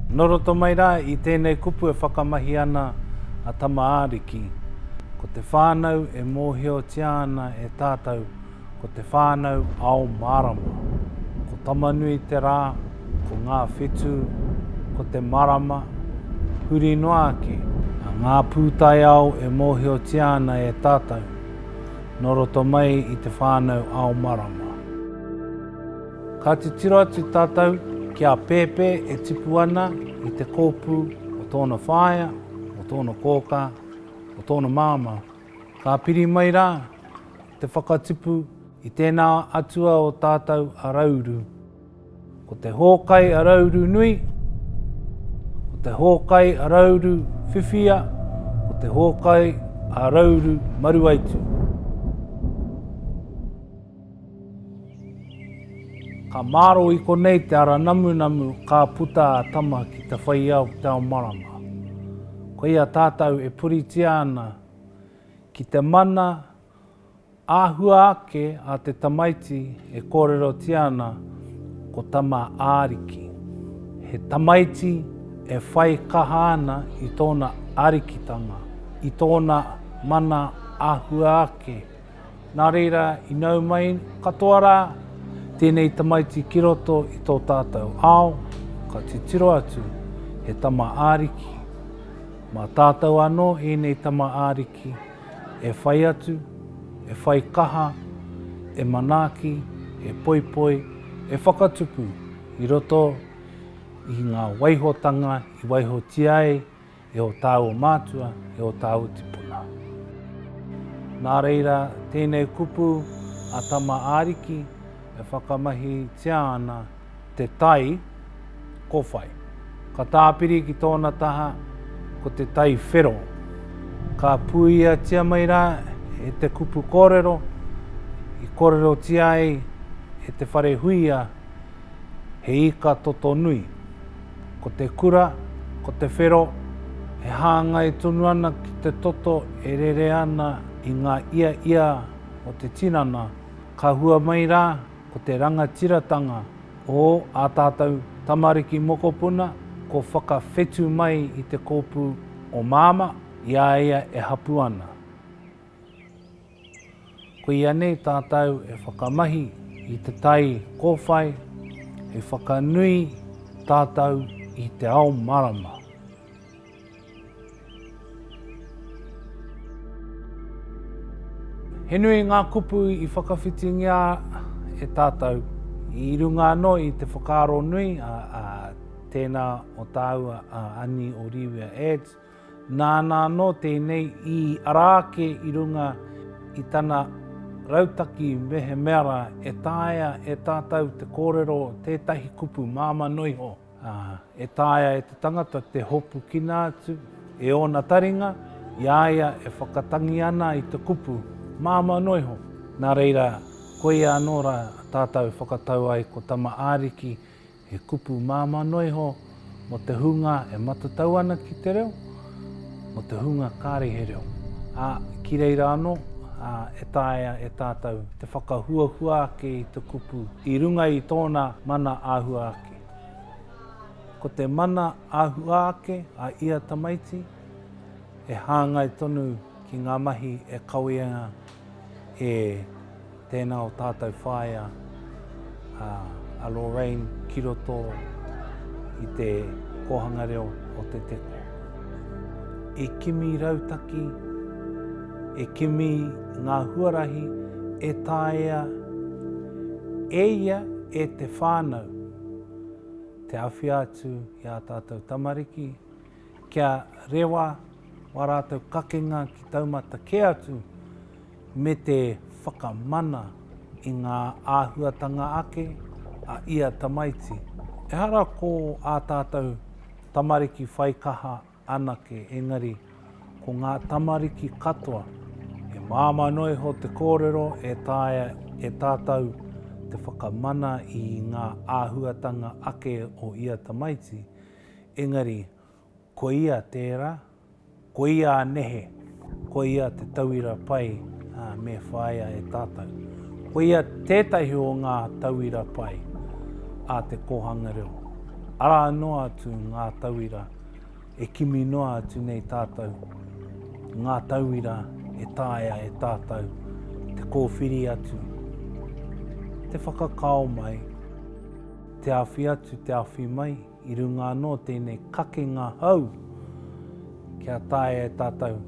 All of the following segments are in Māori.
Nō roto mai rā i tēnei kupu e whakamahi ana a Tama-ā-riki, ko te whānau e mōhiotia ana e tātou ko te whānau ao mārama. Ko Tamanui te rā, ko ngā whetū, ko te marama, huri noa ake. A ngā pūtaiao e mōhiotia ana e tātou, nō roto mai i te whānau ao marama. Ka titiro atu tātou ki a Pēpē e tipu ana i te kōpū o tōna whaea, o tōna kōkā, o tōna māmā. Ka piri mai rā te whakatipu i tēnā atua o tātou a Rauru. Ko te hōkai a Rauru nui, ko te hōkai a Rauru whiwhia, ko te hōkai a Rauru maruaitu. Ka maro i konei te ara namunamu ka puta a Tama ki te whaiao ki te ao marama. Koia tātou e puritia ana ki te mana āhua ake a te tamaiti e kōrerotia ana ko Tama Ariki. He tamaiti e whai kaha ana i tōna arikitanga, i tōna mana āhua ake Nā reira, i nau mai katoa rā tēnei tamaiti ki roto i tō tātou ao, ka titiro atu, he tama Ariki. Mā tātou anō ēnei tama Ariki e whai atu, e whai kaha, e manaaki, e poipoi, e whakatupu i roto i ngā waihotanga i waihotia ai, E o tāua mātua, e o tāua tipuna. Nā reira, tēnei kupu a Tama Ariki e whakamahitia ana te tai ko whai. Ka tāpiri ki tōna taha ko te tai whero. Ka puiatia mai rā e te kupu kōrero i kōrerotia ai e Te Wharehuia he ika toto nui. Ko te kura, ko te whero, e hāngai tonu ana ki te toto e rere ana i ngā ia ia o te tinana, ka hua mai rā ko te rangatiratanga o ā tātou tamariki mokopuna kua whakawhetu mai i te kōpū o Māmā i a ia e hapū ana. Koia nei tātou e whakamahi i te tai kōwhai hei whakanui tātou i te ao marama. He nui ngā kupu i whakawhitingia e tātou i runga anō i te whakaaro nui a, a tēnā o tāua a Ani o Rīwia Ads, Nāna anō tēnei i ara ake i runga i tana rautaki mehemea rā e taea e tātou te kōrero tētahi kupu māmā noa iho, ā, e taea e te tangata te hopukina atu e ōna taringa i a ia e whakatangi ana i te kupu māmā noa iho. Nā reira, koia anō rā tātou e whakatau ai ko Tama Ariki He kupu māmā noa iho mō te hunga e matatau ana ki te reo, mō te hunga kāre he reo, ā, ki reira anō, ā, e taea e tātou te whakahuahua ake i te kupu i runga i tōna mana āhua ake. Ko te mana āhua ake a ia tamaiti e hāngai tonu ki ngā mahi e kawea E tēnā o tātou whaea a Lorraine ki roto i te kōhanga reo o Te Teko. E kimi rautaki, e kimi ngā huarahi e taea e ia e te whānau te awhia atu i ā tātou tamariki, kia rewa wā rātou kakenga ki taumata kē atu me te whakamana i ngā āhuatanga ake a ia tamaiti. Ehara ko ā tātou tamariki whai kaha anake, engari ko ngā tamariki katoa, he māmā noa iho te kōrero e taea e tātou te whakamana i ngā āhuatanga ake o ia tamaiti, engari ko ia tērā, ko ia a nehe, ko ia te tauira pai me whāia e tātou. Ko ia tētahi o ngā tauira pai a te kōhanga reo, arā noa atu ngā tauira e kimi noa atu nei tātou, ngā tauira e taea e tātou te kōwhiri atu, te whakakao mai, Te awhi atu, te awhi mai, i runga anō tēnei kakenga hou kia taea e tātou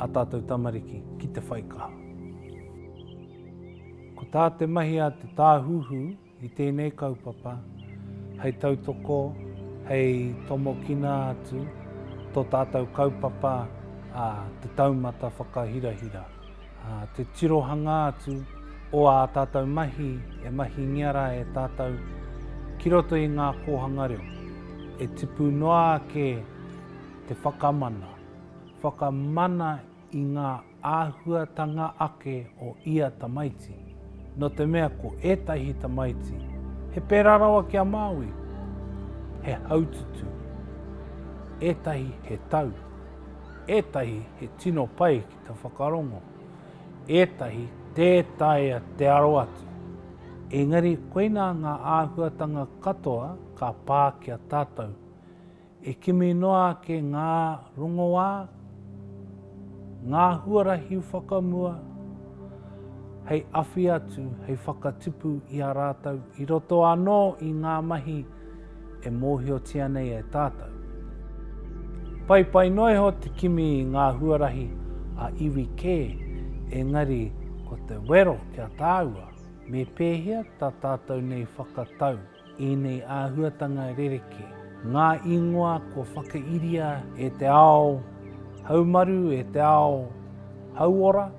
ā tātou tamariki ki te whai kaha. Ko tā te mahi a te Tāhuhu i tēnei kaupapa, hei tautoko, hei tomokina atu tō tātou kaupapa, ā, te taumata whakahirahira. te tirohanga atu o ā tātou mahi e mahingia rā e tātou ki roto i ngā kōhanga reo, e tipu noa ake te whakamana, whakamana i ngā āhuatanga ake o ia tamaiti, nō te mea ko ētahi tamaiti he pērā rawa ki a Māui, he haututu, ētahi he tau, ētahi he tino pai Ka whakarongo ētahi tē taea te aro atu, engari koinā ngā āhuatanga katoa ka pā ki a tātou. E kimi noa ake ngā rongoā, ngā huarahi whakamua hei awhi atu, hei whakatipu i a rātou i roto anō i ngā mahi e mōhiotia nei e tātou. Paipai noa iho te kimi i ngā huarahi a iwi kē, engari ko te wero ki a tāua, me pēhea tā tātou nei whakatau ēnei āhuatanga rerekē, ngā īngoa kua whakairia e te ao haumaru, e te ao hauora,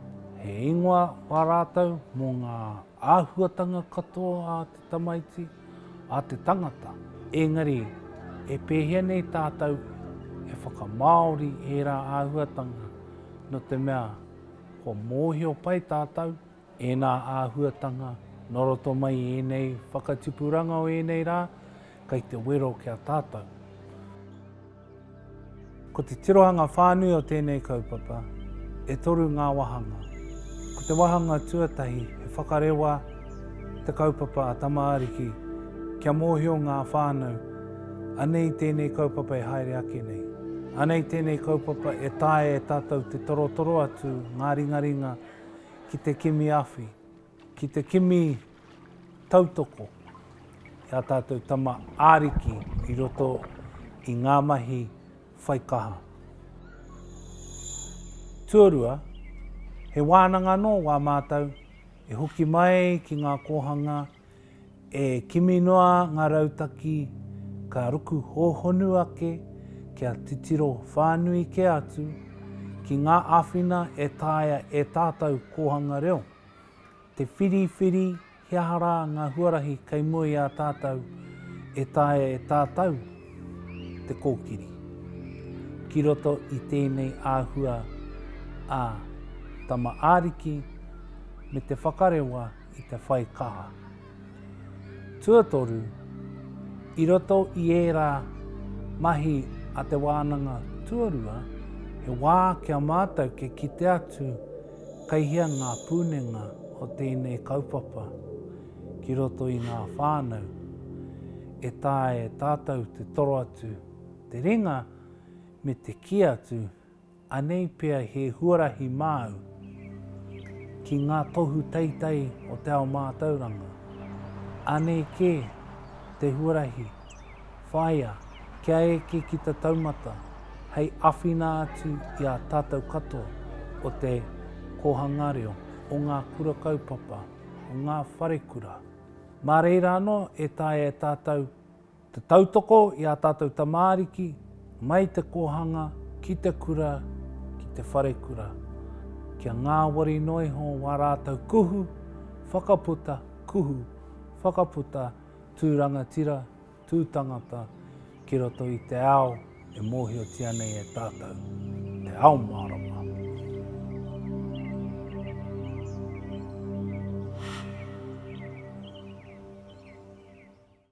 he ingoa wā rātou mō ngā Āhuatanga katoa a te tamaiti, a te tangata. Engari, e pēhea nei tātou e whakamāori ērā āhuatanga, nō te mea, kua mōhio pai tātou ēnā āhuatanga nō roto mai i ēnei whakatipuranga o ēnei rā, kei te wero ki a tātou. Ko te tirohanga whānui o tēnei kaupapa, e toru ngā wāhanga. Ko te wāhanga tuatahi he whakarewa te kaupapa a Tama Ariki kia mōhio ngā whānau anei tēnei kaupapa e haere ake nei, anei tēnei kaupapa e taea e tātou te torotoro atu ngā ringaringa ki te kimi awhi. Ki te kimi tautoko i ā tātou tama ariki i roto i ngā mahi whaikaha. Tuarua, he wānanga anō wā mātou e hoki mai ki ngā kōhanga e kimi noa ngā rautaki ka ruku hōhonu ake kia titiro whānui kē atu ki ngā āwhina e taea e tātou kōhanga reo. Te whiriwhiri he aha rā ngā huarahi kei mua i a tātou e taea e tātou te kōkiri ki roto i tēnei āhua ā Tama Ariki me te whakarewa i te whai kaha. Tuatoru, i roto i ērā mahi a te wānanga tuarua, he wā ki a mātou kia kite atu kei hea ngā pūnenga o tēnei kaupapa ki roto i ngā whānau, e taea e tātou te toro atu te ringa me te kī atu, Anei pea he huarahi māu ki ngā tohu teitei o te ao mātauranga. Anei kē te huarahi whāia kia eke ki te taumata hei awhina atu i a tātou katoa o te Kōhanga Reo, o ngā Kura Kaupapa, o ngā Wharekura. Mā reira anō e taea e tātou Te tautoko i ā tātou tamāriki mai te kōhanga ki te kura, ki te wharekura, kia ngāwari noa iho wā rātou kuhu whakaputa, kuhu whakaputa tū rangatira, tū tangata ki roto i te ao e mōhiotia nei e tātou, te ao mārama.